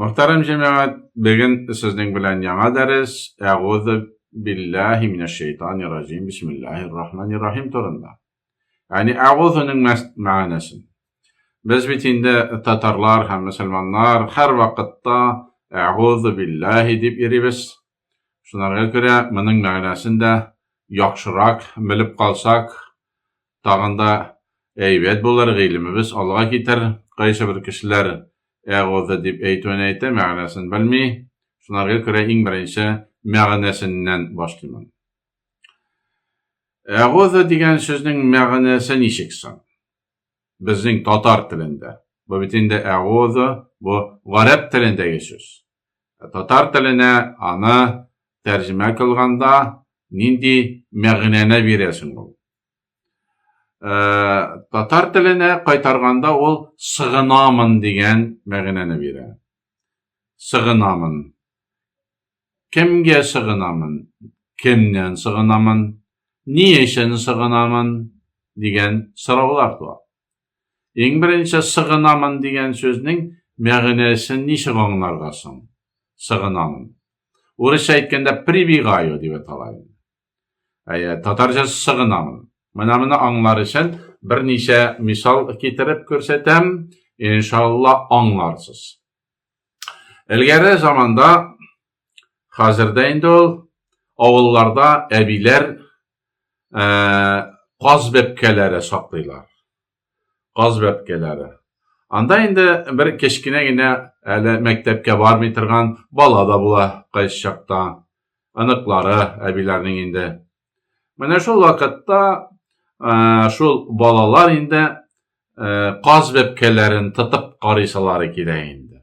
Мөхтәрәм җәмәгать, бүген сезнең белән яңа дәрес Әгузу биллаһи минәш шәйтанир раҗим бисмиллаһир рахманир рахим турында. Яни әгузуның мәгънәсен. Без бит инде татарлар һәм мөселманнар һәрвакытта әгузу биллаһи дип йөрибез. Шуларга күрә моның мәгънәсен дә яхшырак белеп калсак, тагын да әйбәт булыр, гыйлемебез алга китер. Кайсы бер кешеләр әгъузу дип әйтүен әйтә, мәгънәсен белми. Шуларга күрә иң беренче мәгънәсеннән башлыймын. Әгъузу дигән сүзнең мәгънәсе ничек соң? Безнең татар телендә. Бу бит инде әгъузу, бу гарәп телендәге сүз. Татар теленә аны тәрҗемә кылганда нинди мәгънәне бирәсең ул? Татар теленә кайтарганда ул сыгынамын дигән мәгънәне бирә. Сыгынамын. Кемгә сыгынамын? Кемнән сыгынамын? Ни өчен сыгынамын? дигән сораулар туа. Иң беренче сыгынамын дигән сүзнең мәгънәсен ничек аңларга соң? Сыгынамын. Урысча әйткәндә прибегаю дип атала. Әйе, татарча сыгынамын. Менә моны аңлар өчен берничә мисал китереп күрсәтәм, иншалла аңларсыз. Элгәре заманда Хәзердә инде ул авылларда әбиләр каз бәпкәләре саклыйлар. Каз бәпкәләре. Анда инде бер кечкенә генә әле мәктәпкә бармый торган бала да була кайсы чакта. Аныклары әбиләрнең инде Менә шул вакытта шул балалар инде каз бәпкәләрен тотып карыйсалары килә инде.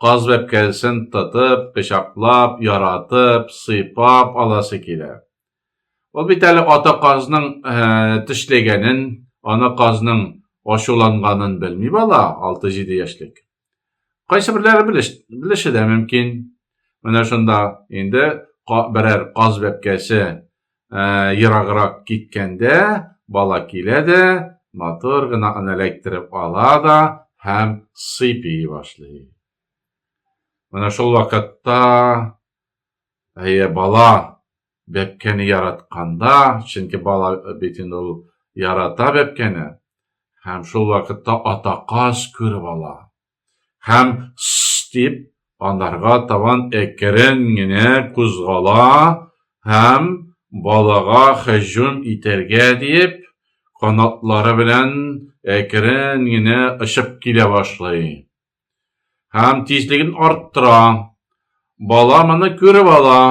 Каз бәпкәсен тотып, пычаклап, яратып, сыйпап аласы килә. Ул бит әле ата казның тешләгәнен, ана казның ачуланганын белми бала, 6-7 яшьлек. Кайсыберләре белеше дә мөмкин. Менә шунда инде берәр каз бәпкәсе ераграк киткәндә бала килә дә, матур гына аны эләктереп ала да һәм сыйпи башлый. Менә шул вакытта әйе бала Бәбкәне яратканда, чөнки бала бит инде ул ярата бәбкәне, һәм шул вакытта атаказ күреп ала. Һәм сс дип анарга табан әкрен генә кузгала һәм балага һөҗүм итәргә диеп, канатлары белән әкрен генә очып килә башлый. Һәм тизлеген арттыра. Бала моны күреп ала.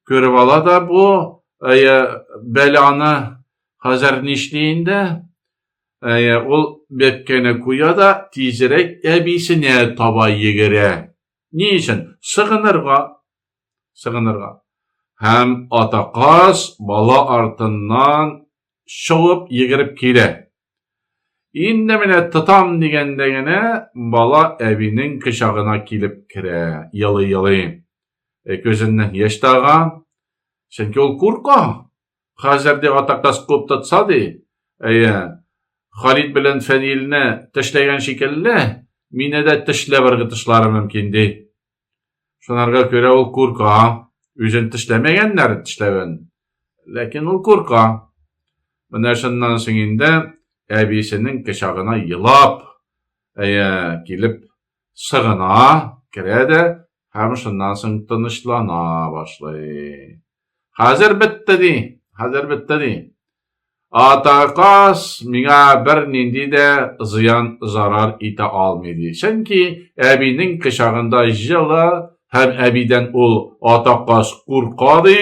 Күреп ала да бу әйе, бәланы хәзер нишли инде? Әйе, ул бәпкәне куя да тизрәк әбисенә таба йөгерә. Ни өчен? Сыгынырга. Сыгынырга. Һәм атаказ бала артыннан шуып йөгереп килә. Инде менә тотам дигәндә генә бала әбинең кочагына килеп керә, елый-елый. Э, күзеннән яшь тага, чөнки ул курка. Хәзер ди атакас куып тотса ди, әйе, Халид белән Фәнилне тешләгән шикелле, мине дә тешләп ыргытышлары мөмкин ди. Шунарга күрә ул курка. Үзен тешләмәгәннәр тешләвен. Ләкин ул курка. Менә шуннан соң инде әбисенең кочагына елап, әйе, килеп сыгына, керә дә һәм шуннан соң тынычлана башлый. Хәзер бетте ди, хәзер бетте ди. Атаказ миңа бернинди дә зыян зарар итә алмый, ди. Чөнки әбинең кочагында җылы һәм әбидән ул атаказ курка, ди.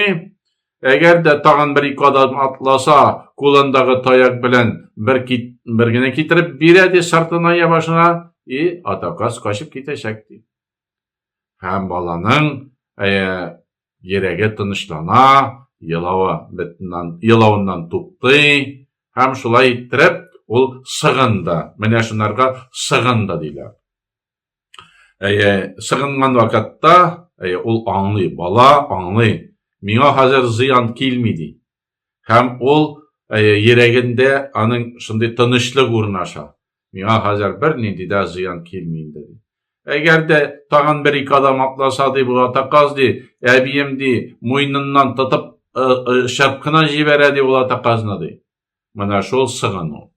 Әгәр дә тагын бер-ике адым атласа, кулындагы таяк белән бер кит, бер генә китереп бирә, ди сыртына я башына, и атаказ качып китәчәк, ди. Һәм баланың ә, Йөрәге тынычлана, елавы бетеннән, елавыннан туктый һәм шулай иттереп ул сыгынды. Менә шунарга сыгынды диләр. Әйе, сыгынган вакытта, әйе, ул аңлый, бала аңлый. Миңа хәзер зыян килми ди. Һәм ул йөрәгендә аның шундый тынычлык урнаша. Миңа хәзер бернинди дә зыян килми инде. Әгәр дә тагын бер-ике адым атласа, ди, бу атаказ, ди, әбием, ди, муйныннан тотып шәп кына җибәрә, ди, ул атаказны, ди. Менә шул сыгыну.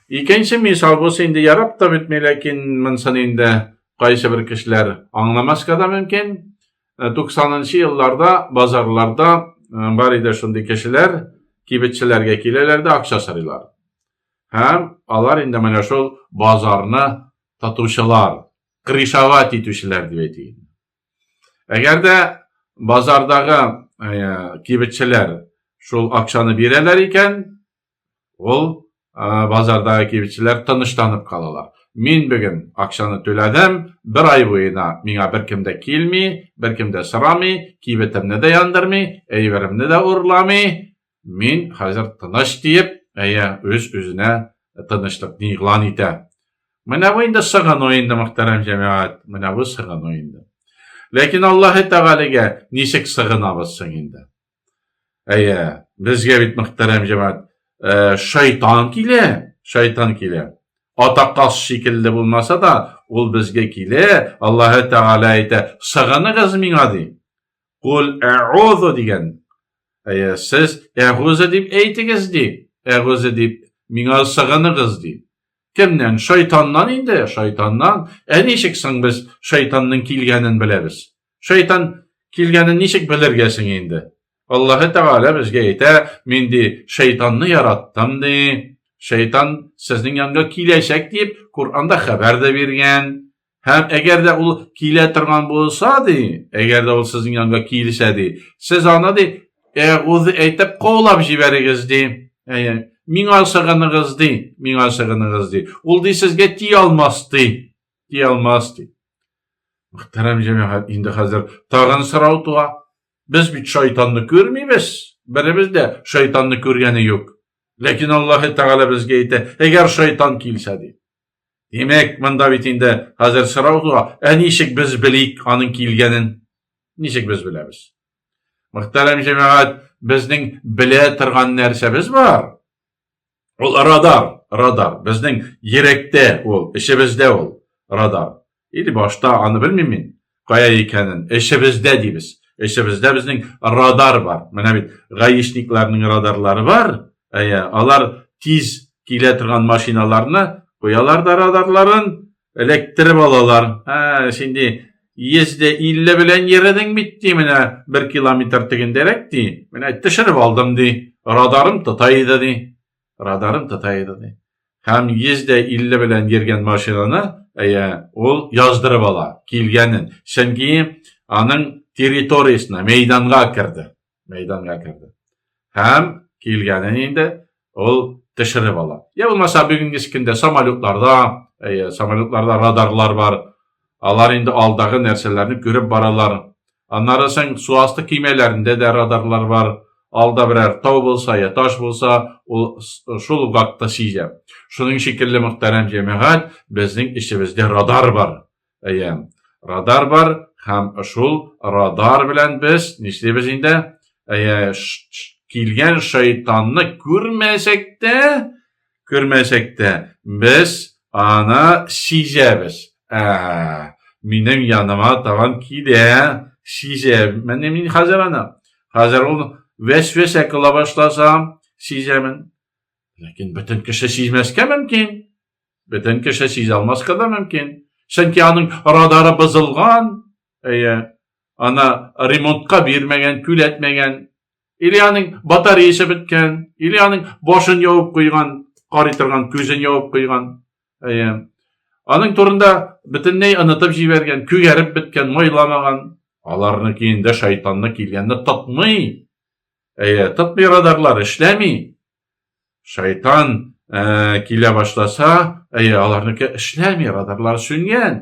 Икенче мисал булса инде ярап та бетми, ләкин монсын инде кайсы бер кешеләр аңламаска да мөмкин. 90-нчы елларда базарларда бар иде шундый кешеләр, кибетчеләргә киләләр дә акча сорыйлар. Һәм алар инде менә шул базарны татучылар, крышават итүчеләр дип әйтик. Әгәр дә базардагы кибетчеләр шул акчаны бирәләр икән, Ул ә, базардагы кибетчеләр тынычланып калалар. Мин бүген акчаны түләдем, бер ай буена миңа беркем дә килми, беркем дә сорамый, кибетемне дә яндырмый, әйберемне дә урламый. Мин хәзер тыныч диеп, әйе, үз-үзенә тынычлыкны игълан итә. Менә бу инде сыгыну инде, мөхтәрәм җәмәгать, менә бу сыгыну инде. Ләкин Аллаһы Тәгаләгә ничек сыгынабыз соң инде? Әйе, безгә бит мөхтәрәм җәмәгать, э, шайтан килә, шайтан килә. Атакас шикелле булмаса да, ул безгә килә, Аллаһы Тәгалә әйтә, сыгыныгыз миңа ди. Кул әгъузу дигән. Әйе, сез әгъузу дип әйтегез ди. Әгъузу дип миңа сыгыныгыз ди. Кемнән? Шайтаннан инде, шайтаннан. Ә ничек соң без шайтанның килгәнен беләбез? Шайтан килгәнен ничек белергә соң инде? Аллаһы Тәгалә безгә әйтә, мин ди шайтанны яраттым ди. Шайтан сезнең янга киләчәк дип Коранда хәбәр дә биргән. Һәм әгәр дә ул килә торган булса ди, әгәр дә ул сезнең янга килсә ди, сез аны ди әгүзе әйтеп каулап җибәрегез ди. Әйе, миңа сыгыныгыз ди, миңа сыгыныгыз ди. Ул ди сезгә ти алмас ди. Ти алмас ди. Мөхтәрәм җәмәгать, инде хәзер тагын сорау туа. Без бит шайтанны күрмибез. Беребез дә шайтанны күргәне юк. Ләкин Аллаһы Тәгалә безгә әйтә, әгәр шайтан килсә ди. Димәк, монда бит инде хәзер сорау туа, ә ничек без белик аның килгәнен? Ничек без беләбез? Мөхтәрәм җәмәгать, безнең белә торган нәрсәбез бар. Ул радар, радар. Безнең йөрәктә ул, эчебездә ул радар. Или башта аны белмим мин, кая икәнен. Эчебездә дибез. Эчебездә безнең радар бар. Менә бит гаишникларның радарлары бар. Әйе, алар тиз килә торган машиналарны куялар да радарларын, Эләктереп алалар. Ә, шинди йөздә илле белән йөрдең бит ди, менә бер километр тегендәрәк ди. Менә төшереп алдым ди. Радарым тота иде ди. Радарым тота иде ди. Һәм йөздә илле белән йөргән машинаны, әйе, ул яздырып ала килгәнен. Чөнки аның территориясенә, мәйданга керде. мәйданга керде. Һәм килгәнен инде ул төшереп ала. Я булмаса бүгенге көндә самолетларда, әйе, самолетларда радарлар бар. Алар инде алдагы нәрсәләрне күреп баралар. Аннары соң су асты кимәләрендә дә радарлар бар. Алда берәр тау булса я таш булса, ул шул вакытта сизә. Шуның шикелле мөхтәрәм җәмәгать, безнең эчебездә радар бар. Әйе, радар бар һәм шул радар белән без нишлибез инде? Әйе, килгән шайтанны күрмәсәк тә, күрмәсәк тә без аны сизәбез. Ә, минем яныма табан килә, сизәм. Менә мин хәзер аны. Хәзер ул вәсвәсә кыла башласа, сизәмен. Ләкин бөтен кеше сизмәскә мөмкин. Бөтен кеше сизә алмаска да мөмкин. Чөнки аның радары бозылган, әйе, аны ремонтка бирмәгән, түләтмәгән, или аның батареясы беткән, или аның башын явып куйган, карый торган күзен явып куйган. Әйе. Аның турында бөтенләй онытып җибәргән, күгәреп беткән, майламаган. Аларны киенде шайтанны килгәнне тотмый. Әйе, тотмый радарлар, эшләми. Шайтан ә, килә башласа, әйе, аларныкы эшләми, радарлар сүнгән.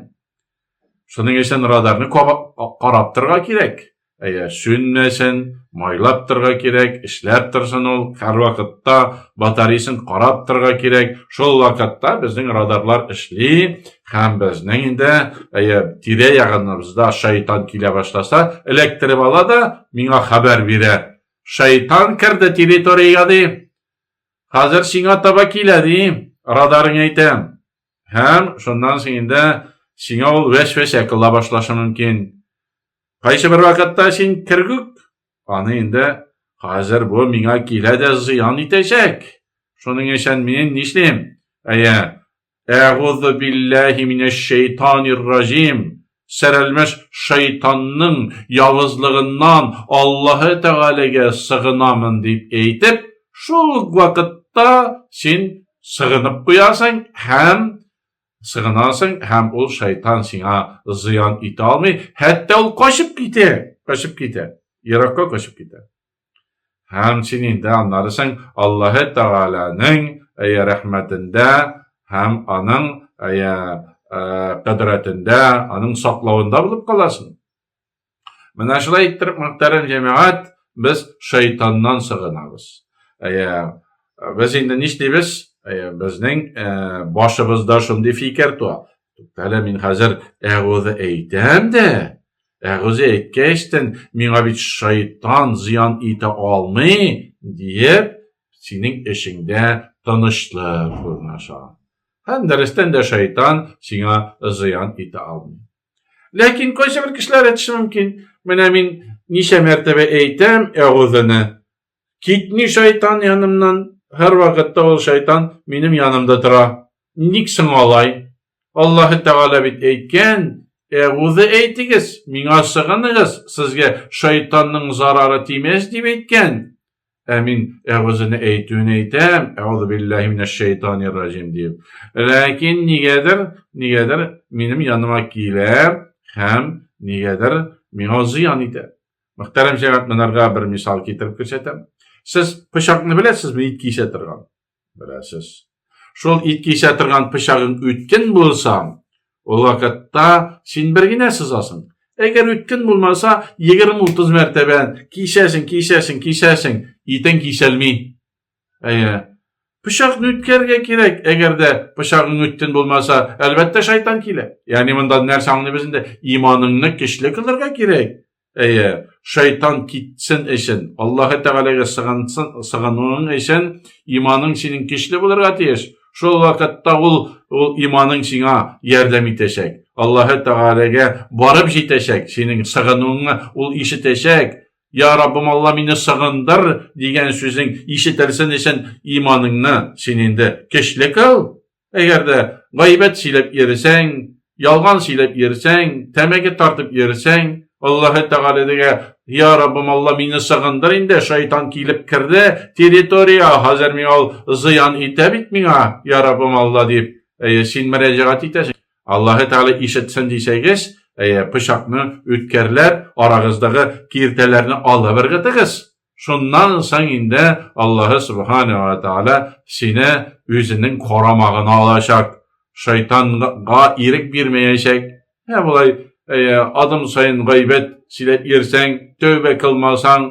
Шуның өчен радарны карап торга кирәк. Әйе, сүнмәсен, майлап торга кирәк, эшләп торсын ул, һәрвакытта батареясын карап торга кирәк. Шул вакытта безнең радарлар эшли, һәм безнең инде әйе, тирә ягыныбызда шайтан килә башласа, эләктереп ала да миңа хәбәр бирә. Шайтан керде территориягә ди. Хәзер сиңа таба килә ди, радарың әйтә. Һәм шуннан соң инде сиңа ул вәсвәсә кыла башлашы мөмкин. Кайсы бер вакытта син кергүк, аны инде хәзер бу миңа килә дә зыян итәчәк. Шуның өчен мин нишлим? Әйе, Әгузу билләһи минәш шәйтанир раҗим. Сәрәлмәш шайтанның явызлыгыннан Аллаһы Тәгаләгә сыгынамын дип әйтеп, шул ук вакытта син сыгынып куясың һәм сыгынасың һәм ул шайтан сиңа зыян итә алмый, хәтта ул качып китә, качып китә, еракка качып китә. Һәм син инде аннарысың Аллаһы Тәгаләнең әйә рәхмәтендә һәм аның әйә кадратында, аның саклавында булып каласың. Менә шулай иттереп, мөхтәрәм җәмәгать, без шайтаннан сыгынабыз. Әйә, без инде нишлибез? Әйә, безнең башыбызда шундый фикер туа. Туктале, мин хәзер әгузе әйтәм дә, Әгүзе әйткәчтен, миңа бит шайтан зыян итә алмый, диеп, синең эшеңдә тынычлык урнаша. Һәм дәрестән дә шайтан сиңа зыян итә алмый. Ләкин кайсы бер кешеләр әйтеше мөмкин, менә мин ничә мәртәбә әйтәм әгүзене, Китми шайтан янымнан, һәрвакытта ул шайтан минем янымда тора. Ник соң алай? Аллаһы Тәгалә бит әйткән, Әгузе әйтегез, миңа сыгыныгыз, сезгә шайтанның зарары тимәс дип әйткән. Ә мин әгүзене әйтүен әйтәм, әгүзу биллаһи минәш шайтанир ражим дип. Ләкин нигәдер, нигәдер минем яныма килә һәм нигәдер миңа зыян итә. Мөхтәрәм җәмәгать монарга бер мисал китереп күрсәтәм. Сез пычакны беләсезме, ит кисә торган? Беләсез. Шул ит кисә торган пычагың үткен булса, ул вакытта син бер генә сызасың. Әгәр үткен булмаса, 20-30 мәртәбә кисәсең, кисәсең, кисәсең, итең кисәлми. Әйе. Пычакны үткәрергә кирәк. Әгәр дә пычагың үттен булмаса, әлбәттә шайтан килә. Ягъни монда нәрсә аңлыйбыз инде? Иманыңны көчле кылырга кирәк. Әйе, шайтан китсен өчен, Аллаһ Тәгаләгә сыгынсын, сыгынуың өчен иманың синең көчле булырга тиеш. Шул вакытта ул ул иманың сиңа ярдәм итәчәк. Аллаһ Тәгаләгә барып җитәчәк, синең сыгынуыңны ул ишетәчәк. Я Раббым Алла мине сагындыр дигән сүзең ишетелсен өчен иманыңны син инде көчле кыл. Әгәр дә гайбәт сөйләп йөрсәң, ялган сөйләп йөрсәң, тәмәке тартып йөрсәң, Аллаһы Тәгалә дигә, "Я Раббым Алла мине сагындыр инде, шайтан килеп керде территория, хәзер миңа ул зыян итә бит миңа, я Раббым Алла" дип, әйе, син мөрәҗәгать итәсең. Аллаһы Тәгалә ишетсен дисәгез, әйе, пычакны үткәрләп, арагыздагы киртәләрне алып ыргытыгыз. Шуннан соң инде Аллаһы Субхана ва Тәгалә сине үзенең карамагына алачак. Шайтанга ирек бирмәячәк. Ә болай, әйе, адым саен гайбәт сөйләп йөрсәң, тәүбә кылмасаң,